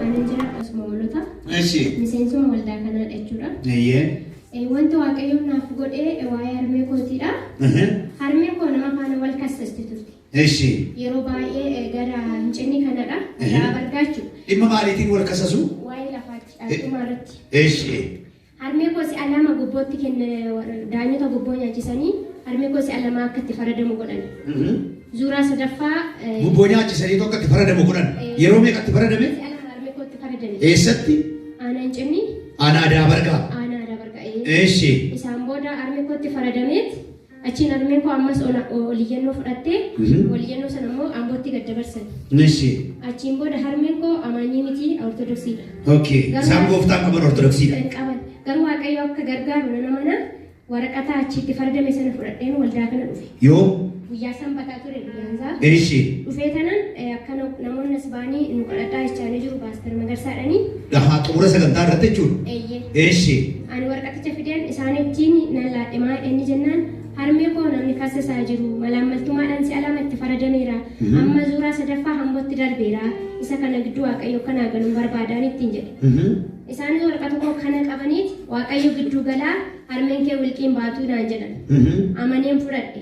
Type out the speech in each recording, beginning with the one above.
Ani jira akkasuma hoolota. Eshi. Miseensuma waldaa kanaa jechuudha. Eyyee. Eh, Wanti waaqayyoon naaf godhe eh, waa'ee harmee kootiidha. Ehe. Harmeen koo nama faana wal kassasti turte. Eshi. Yeroo baay'ee eh, gara hincinni kanadha. Mhm. Garaa bargaachu. Dhimma maaliitiin wal kasasu? Waa'ee lafaatti dhaaltumaa irratti. Eshi. Harmee koo si'a lama gobbootti kenne daanyota gobboo nyaachisanii harmee koo si'a lama akka itti faradamu godhan. Zuuraa sadaffaa. Gubboo nyaachisaniitu akka itti faradamu godhan. Yeroo meeqa itti faradame? Si'a lama harmee koo itti faradame. Eessatti? Aanaa hin cinni. Aanaa Daabargaa. Aanaa Daabargaa. Eeshi. Isaan booda harmee koo itti faradameet. Achiin harmeen koo ammas ol iyyannoo fudhattee ol iyyannoo sana immoo Ambootti gad dabarsan. Nishi. Achiin booda harmeen koo amaanyii miti Ortodoksiidha. Okay. Garuu- Isaan gooftaan qaban Ortodoksiidha. Kan qaban. Garuu Waaqayyo akka gargaaru nan amana waraqata achitti fardame sana fudhadheen waldaa kana dhufe. Yoo Guyyaa sanbataa ture. Gaanzaa. Eeshi. Dhufee tanan eh, akkana namoonni as ba'anii nu kadhadhaa jechaa ni jiru paaster Magarsaadhanii. Gahaa xumura sagantaa irratti jechuudha. Eeyyee. Eeshi. Ani warqaticha fideen isaanittiin nan laadhimaa inni jennaan harmee koo namni kassisaa jiru malaammaltummaadhaan si'a lama itti faradameera. Amma zuuraa sadaffaa hambootti darbeera. Isa kana gidduu waaqayyo kanaa galuun barbaadaan ittiin jedhe. Isaanis warqata koo kana qabaniit waaqayyo gidduu galaa harmeen kee wilqiin baatuu naan jedhan. Amaneen fudhadhe.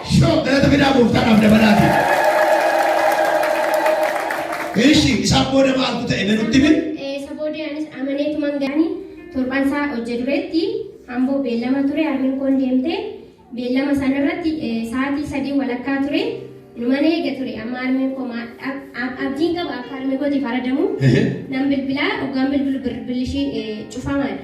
Shoo galata fidaa gooftaadhaaf dabalaatii. Eeshi isaan booda maaltu ta'e mee nutti himi? Eh, Isa booda anis amaneetuman ga'anii torban isaa hojje dureetti amboo beellama ture harmeen koon deemte beellama sana irratti eh, sa'aatii sadii walakkaa ture numan eega ture amma harmeen koo maa- ab- ab- abdiin qaba akka harmee kootiif faradamu Ehe. nan bilbilaa oggaan bilbilu bilbilishii eh, cufamaadha.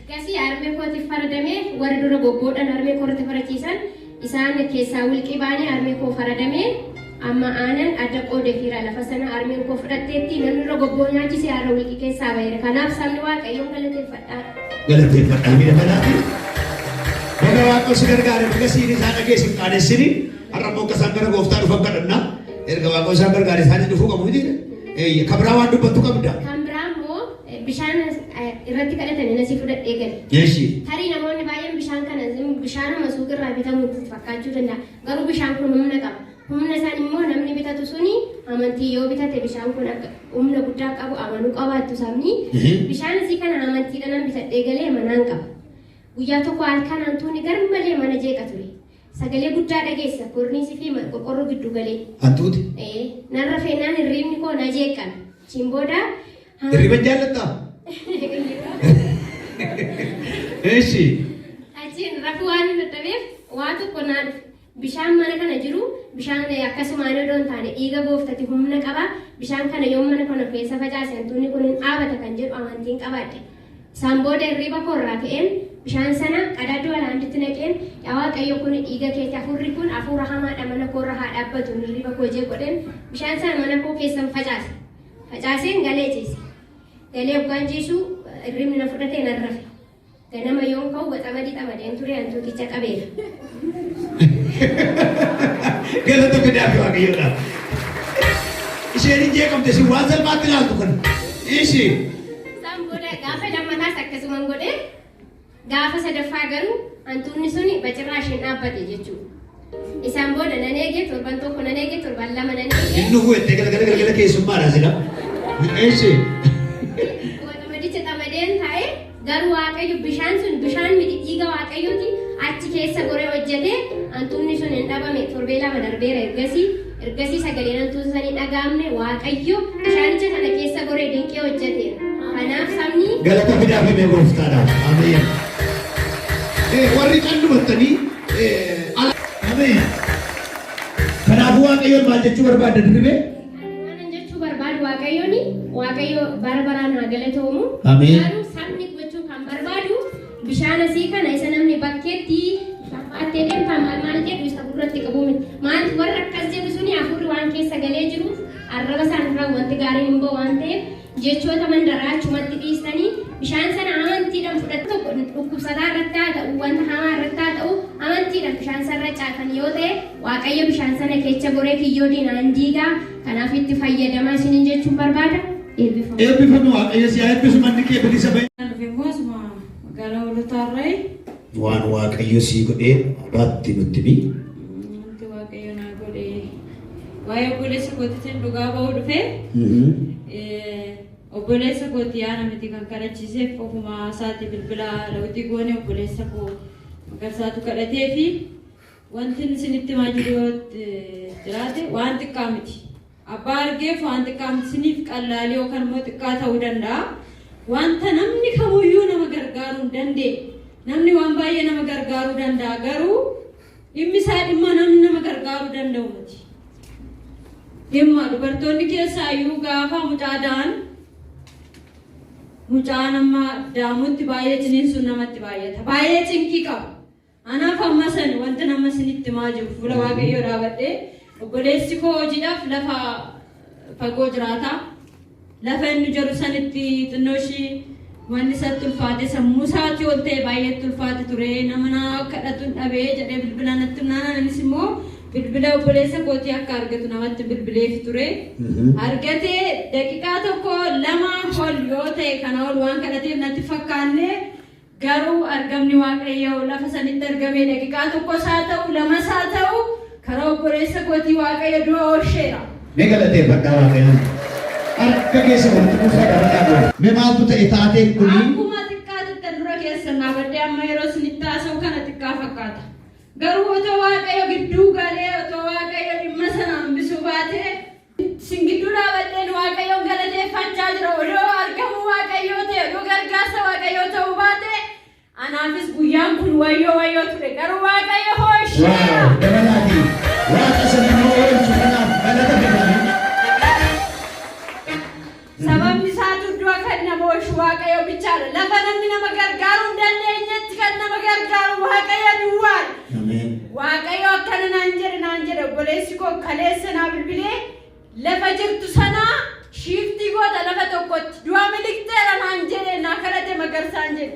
Ergasii harmee kootiif faradame, warri dura bobboodhaan harmee koo irratti farachiisan, isaan keessaa wilqii baanee harmee koo faradame, amma aanan adda qoodefiira, lafa sana harmeen koo fudhatteetti, namni dura bobboo nyaachise har'a wilqii keessaa ba'eera, kanaaf sabni Waaqayyoon galateeffadhaa. galateeffadhaa miira kanaafi baga waaqoo si gargaare baga siini isaa dhagee sin qaanessini har'a immoo akka isaan gara gooftaa dhufan kadhanna erga waaqoo isaan gargaare isaanis dhufuu qabu miti eeyye kan biraa waan dubbattu qabda Kan biraa immoo Bishaan irratti kadhatanii nasii fudhadhee gale. Eeshi. Tarii namoonni baay'een bishaan kana zim- bishaanuma suuqirraa bitamu itti fakkaachuu danda'a. Garuu bishaan kun humna qaba. Humna isaan immoo namni bitatu suni amantii yoo bitate bishaan kun akka humna guddaa qabu amanuu qabaattu sabni. Ehe. Bishaan isii kana amantiidhaan bitadhee galee manaan qaba. Guyyaa tokko halkan hantuunni garmalee mana jeeqa ture. Sagalee guddaa dhageessa korniisii fi ma- qorqorroo gidduu galee. Hantuuti. Ee, narra feenaan hirriibni koo na jeeqan. Achiin booda Hirriba hin jaallattaa? Eshi. Achiin rafuu waan hin dadhabeef waa tokko naa dhufe. Bishaan mana kana jiru bishaan akkasumaan odoo hin taane dhiiga gooftati humna qaba. Bishaan kana yoo mana kana keessa facaase hantuunni kun hin dhaabata kan jedhu amantiin qabaadhe. Isaan booda hirriba koorraa ka'een bishaan sana qadaaduu alaanditti naqeen yaa waaqayyo kun dhiiga keeti hafuurri kun hafuura hamaadha mana koorra haa dhaabbatu hirriba koo jee godheen bishaan sana mana koo keessan facaase. Facaaseen galee ciise. Galee oggaan ciisu irribni na fudhatee nan rafe. Ganama yoon ka'u waxamadi xamadeen ture hantuuticha qabeera. Galata fidaa fi waaqayyoodha. Isheen hin jeeqamte isin waan salphaatti ilaaltu kana. Ishii. Isaan booda gaafa lammataas akkasuman godhee Gaafa sadaffaa garuu hantuunni suni bacirraa isheen dhaabbate jechuudha. Isaan booda nan eege torban tokko nan eege torban lama nan eege. Inni huwwette galgala galgala keessummaadha sila. Eessi. Waxamadicha xamadeen taa'ee garuu waaqayyo bishaan sun bishaan miti dhiiga waaqayyooti achi keessa goree hojjetee hantuunni sun hin dhabame torbee lama darbeera ergasii Ergasii sagaleen hantuuta sana hin dhaga'amne Waaqayyo bishaanicha sana keessa goree dinqii hojjeteera. Kanaaf sabni Galata fidaa fi mee gooftaadhaaf. Ameen. Ee, Warri qallumattanii ee, ala. Ameen. Kanaafuu Waaqayyoon maal jechuu barbaadda dirribee? Kanan jechuu barbaadu Waaqayyoon Waaqayyo bara baraan haa galatoomu. Ameen. Garuu sabni gochuu kan barbaadu Bishaan asii kana isa namni bakkeetti baattee deemtaa maal maal jedhu isa gurratti qabu miti. Maal warra akkas jedhu suni hafuurri waan keessa galee jiruuf arraba isaanirraa wanti gaariin hin ba'u waan ta'eef jechoota mandaraa achumatti dhiistanii bishaan sana amantiidhaan fudhatu tokko dhukkubsataa irratti haa ta'u wanta hamaa irratti haa ta'u amantiidhaan bishaan sana irra caatan yoo ta'e waaqayyo bishaan sana keessa goree kiyyoo diinaan diigaa Kanaaf itti fayyadamaa isiniin jechuun barbaada. Eebbifama. Eebbifami Waaqayyo si haa eebbisu manni kee bilisa bahe. Kan dhufe immoo asuma magaalaa Hoolotaarraayi. Waan Waaqayyo sii godhee abaatti nutti himi. Wanti Waaqayyo naa godhe waa'ee obboleessa kootiitiin dhugaa ba'uu dhufe. Eh, Obboleessa kooti yaana miti kan kadhachiiseef ofumaa isaati bilbila lawuxii goone obboleessa koo magarsaatu kadhatee fi Wantin isinitti himaa jiru yoo jiraate waan xiqqaa miti. Abbaa argeef waan xiqqaa miti isiniif qallaalii yookaan immoo xiqqaa ta'uu danda'a. Wanta namni kamuyyuu nama gargaaruu hin dandeenye. Namni waan baay'ee nama gargaaruu danda'a garuu dhimmi isaa dhimma namni nama gargaaruu danda'u miti. Dhimma dubartoonni keessaayyuu gaafa mucaa da'an mucaa nama daamutti baay'ee ciniinsuun namatti baay'ata. Baay'ee cinqii qaba. Anaaf amma san wanti nama isinitti himaa jiru fuula waaqayyoo dhaabadhee obboleessi koo hojiidhaaf lafa fagoo jiraata. Lafa inni jedhu sanitti xinnoo ishii wanni isatti ulfaate sammuu isaatii ol ta'e baay'eetti ulfaate ture nama naa kadhatuun dhabee jedhee bilbila natti naanaan innis immoo bilbila obboleessa kootii akka argatu namatti bilbileefi ture. Argatee daqiiqaa tokko lama ol yoo ta'e kana ol waan kadhateef natti fakkaannee Garuu argamni Waaqayyoo lafa sanitti argame daqiqaa tokkos haa ta'u lamas haa ta'u karaa obboleessa kootii Waaqayyo du'a oolcheera. Mee galateeffadhaa Waaqayyoon. Harka keessa walitti kuusaa dhaabadhaa dura. Mee maaltu ta'e taateen kunii? Akkuma xiqqaa tuttan dura keessan dhaabadhee amma yeroo isinitti haasa'u kana xiqqaa fakkaata. Garuu otoo Waaqayyo gidduu galee otoo Waaqayyo dhimma sana hambisuu baatee Isin gidduu dhaabadheen Waaqayyoon galateeffachaa jira. Odoo argamuu Waaqayyoo ta'e, odoo gargaarsa Waaqayyoo ta'uu baate, anaafis guyyaan kun wayyoo wayyoo ture. Garuu Waaqayyo hoo isheera. Waaw dabalaatii waaqa isa nama oolchu kanaaf galata fidaa. Sababni isaatu du'a kan nama oolchu Waaqayyo bichaadha. Lafa namni nama gargaaruu hin dandeenyetti kan nama gargaaru Waaqayyo duwwaadha. Ameen. Waaqayyo akkana naan jedhe naan jedhe obboleessi koo kaleessa naa bilbilee lafa jirtu sanaa shiiftii goota lafa tokkotti du'a miliqxeera naan jedhe naa kadhate magarsaan jedhe.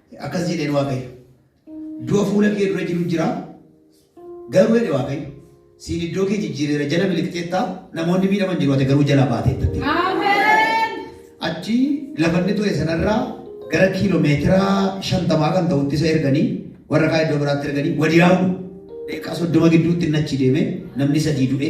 Akkas jedheen Waaqayyo. Du'a fuula kee dura jiru jira. Garuu jedhe Waaqayyo. Siin iddoo kee jijjiireera jala miliqxeetta. Namoonni miidhaman jiru ati garuu jalaa baateetta. Achi lafa inni ture sanarraa gara kiiloomeetira shantamaa kan ta'utti isa erganii warra kaa iddoo biraatti erganii wadiyaa'u deeqaa soddoma gidduutti inni achi deeme namni sadii du'e.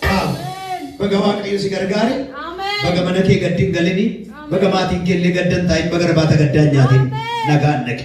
Kaa. Baga Waaqayyo si gargaare. Baga mana kee gaddi hin galini. Baga maatiin kee illee gaddan taa'in baga rabaata gaddaa hin nyaatin. Nagaan dhaqi.